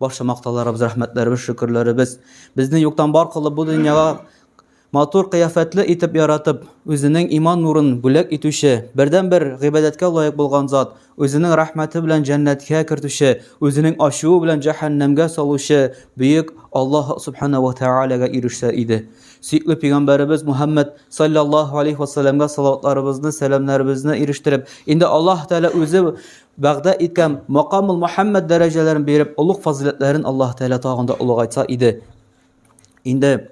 Барча мактауларыбыз, рәхмәтләребез, шөкерләребез безне юктан бар кылып бу дөньяга матур кыяфәтле итеп яратып, үзенең иман нурын бүләк итүче, бердән-бер гыйбадәткә лаек булган зат, үзенең рәхмәте белән җәннәткә кертүче, үзенең ачуы белән җәһәннәмгә салучы бөек Аллаһ субхана ва тәгаләгә ирешсә иде. Сөекле пәйгамбәребез Мухаммад саллаллаһу алейхи ва салләмгә салаватларыбызны, сәламнәребезне ирештереп, инде Аллаһ Тәгалә үзе вәгъдә иткән макамул Мөхәммәд дәрәҗәләрен биреп, олуг фазиләтләрен Аллаһ Тәгалә тагын да олыгайтса иде. Инде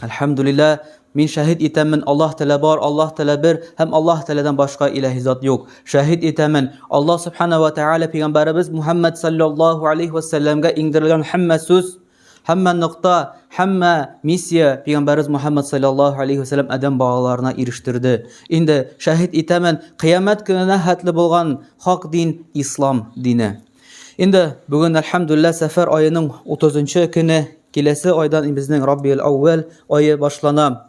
Әлхәмдулилла, мин шәһид итәмен, Аллаһ Тәгалә бар, Аллаһ Тәгалә бер һәм Аллаһ Тәгаләдән башка илаһи зат юк. Шәһид итәмен, Аллаһ Субхана ва Тәгалә пәйгамбәребез Мухаммад саллаллаһу алейхи ва саллямга иңдерелгән һәммә сүз Һәммә нокта, һәммә миссия пигамбәрбез Мухаммад саллаллаһу алейһи ва саллям адәм балаларына ирештерде. Инде шәһит итәмен, кыямәт көненә хәтле булган хак дин ислам дине. Инде бүген әлхәмдүлләһ сәфәр аеның 30 нчы көне, киләсе айдан безнең Раббиул-Әүвәл ае башлана.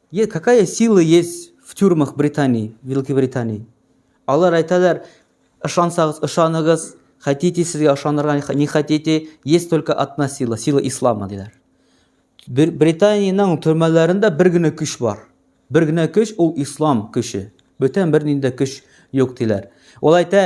Е какая сила есть в тюрьмах британии великобритании алар әйтәләр ышансагыз ышаныгыз хотите сезгә ышанырга не хотите есть только одна сила сила ислама диләр британиянең төрмәләрендә бер генә көч бар бер генә көч ул ислам көче бөтен бернинди көч юк диләр ул әйтә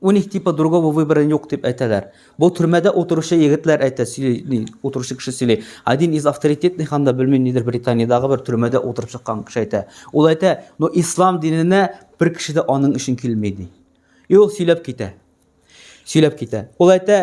У них типа другого выбора юк дип әйтәләр. Бу төрмәдә утыручы егетләр әйтә, сөйли, утыручы кеше сөйли. Один из авторитетных анда, белмим, нидер Британиядагы бер төрмәдә утырып чыккан кеше әйтә. Ул әйтә, ну ислам диненә бер кеше дә аның өчен килми, ди. И ул сөйләп китә. Сөйләп китә. Ул әйтә,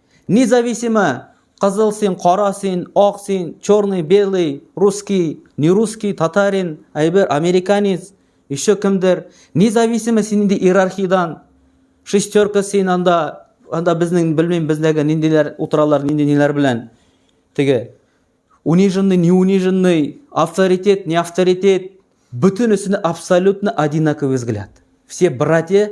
Независимо, кызыл син, кара син, ак син, черный, белый, русский, не русский, татарин, әйбер, американец, еще кемдер. Независимо син инде иерархиядан, шестерка син анда, анда безнең, белмим, бездәге ниндиләр утыралар, нинди ниләр белән. Теге, униженный, не униженный, авторитет, не авторитет, бөтенесенә абсолютно одинаковый взгляд. Все братья,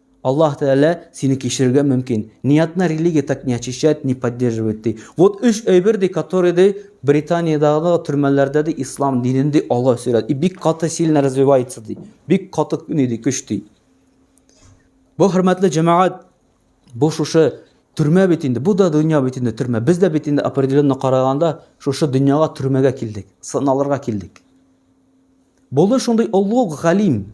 Аллаһ Тәгалә сине кичерергә мөмкин. Ниятны религия так не очищает, не поддерживает ди. Вот өч әйбер ди, которые ди Британиядагы төрмәләрдә ди ислам динен ди алга өстерә. И бик каты сильно развивается ди. Бик каты ни ди көч ди. Бу хөрмәтле җәмәгать бу шушы төрмә бит инде. Бу да дөнья бит инде төрмә. Без дә бит инде определенно караганда шушы дөньяга төрмәгә килдек, сыналырга килдек. Булды шундый олуг галим,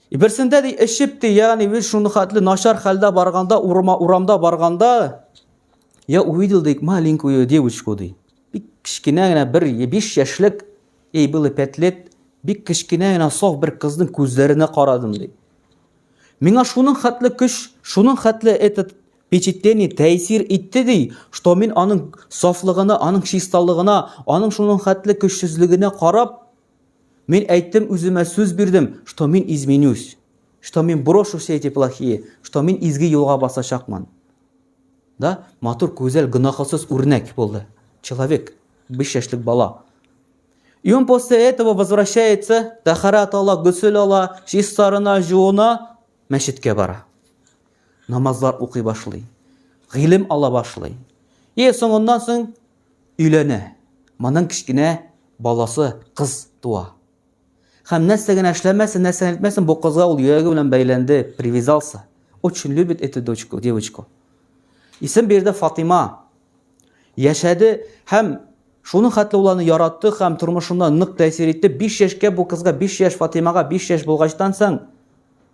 И берсендә ди эчеп ди, ягъни без шуны хәтле начар хәлдә барганда, урма урамда барганда, я увидел ди маленькую девочку ди. Бик кечкенә генә бер 5 яшьлек, ей было 5 лет, бик кечкенә генә саф бер кызның күзләренә карадым ди. Миңа шуның хәтле көч, шуның хәтле этот впечатление тәэсир итте ди, что мин аның сафлыгына, аның чисталыгына, аның шуның хәтле көчсезлегенә карап, Мин әйттем үземә сүз бирдем, что мин изменюсь, что мин брошу все эти плохие, что мин изге юлга басачакмын. Да, матур, күзәл, гөнаһсыз үрнәк булды. Человек, биш яшьлек бала. И он после этого возвращается, тахарат ала, гөсел ала, чистарына, жуына, мәчеткә бара. Намазлар укый башлый. Гыйлем ала башлый. И соңыннан соң Өйләнә. Моның кечкенә баласы, кыз туа. Һәм нәрсә генә эшләмәсен, нәрсә генә әйтмәсен, бу кызга ул йөрәге белән бәйләнде, привязался. Очень любит эту дочку, девочку. Исем бирде Фатыйма. Яшәде һәм шуның хәтле ул аны яратты һәм тормышына нык тәэсир итте. 5 яшькә бу кызга, 5 яшь Фатыймага, 5 яшь булгачтан соң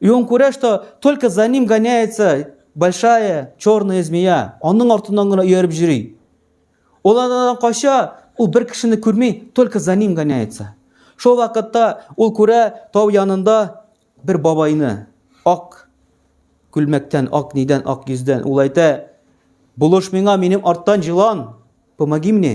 И он күрә, что только за ним гоняется большая черная змея. Аның артыннан гына ияреп җөри. Ул анадан кача, ул бер кешене күрми, только за ним гоняется. Шул вакытта ул күрә тау янында бер бабайны, ак күлмәктән, ак нидән, ак йөздән. Ул әйтә, булыш миңа, минем арттан җылан, помоги мне.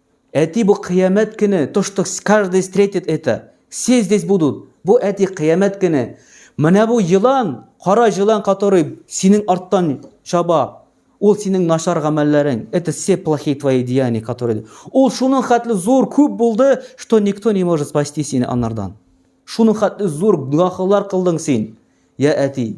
Әти бу кыямәт көне, то что каждый встретит это, все здесь будут, бу әти кыямәт көне, менә бу елан, кара җылан который синең арттан чаба, ул синең начар гамәлләрең, это все плохие твои деяния которые, ул шуның хәтле зур күп булды, что никто не может спасти сине анардан, шуның хәтле зур гөнаһлар кылдың син, я әти.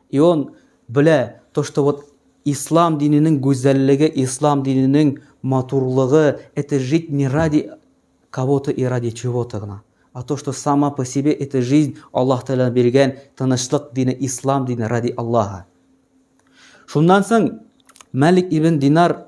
И он белә то что вот ислам диненең гүзәллеге ислам диненең матурлыгы это жить не ради кого то и ради чего то гына а то что сама по себе это жизнь аллаһ тәгалә биргән тынычлык дине ислам дине ради аллаһа шуннан соң мәлик ибн динар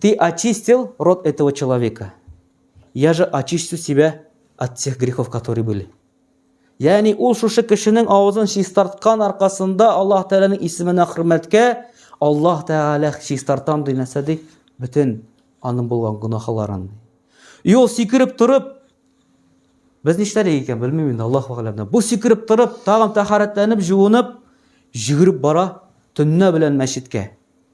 Ты очистил род этого человека. Я же очистю себя от всех грехов, которые были. Яни ул шушы кешенең авызын чистарткан аркасында Аллаһ Тәгаләнең исеменә хөрмәткә Аллаһ Тәгалә чистартам ди нәрсә ди? Бөтен аның булган гөнаһларын. Юл сикереп торып без нишләдек икән белмим инде Аллаһ вәгаләмдә. Бу сикереп торып, тагын тәхәрәтләнеп, җуынып, җигереп бара төннә белән мәчеткә.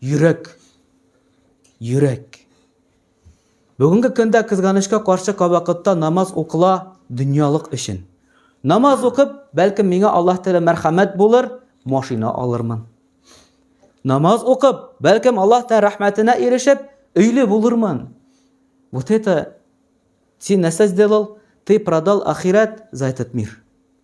Йөрәк. Йөрәк. Бүгенге көндә кызганычка каршы кабакытта намаз укыла дөньялык өчен. Намаз укып, бәлкем миңа Аллаһ Тәгалә мәрхәмәт булыр, машина алырмын. Намаз укып, бәлкем Аллаһ Тәгалә рәхмәтенә ирешеп, өйле булырмын. Вот это син нәрсә сделал? Ты продал ахирәт за этот мир.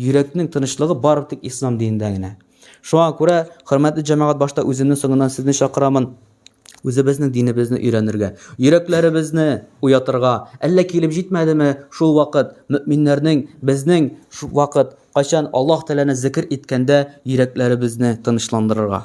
Йөрәкнең тынычлыгы бары тик Ислам динендә генә. Шуңа күрә, хөрмәтле җәмәгать, башта үземнең, соңыннан сезне чакырамын, үзебезнең динебезне өйрәнергә, йөрәкләребезне уятырга. Әллә килеп җитмәдеме шул вакыт, мөэминнәрнең, безнең вакыт, кайчан Аллаһ Тәгаләне зикер иткәндә йөрәкләребезне тынычландырырга?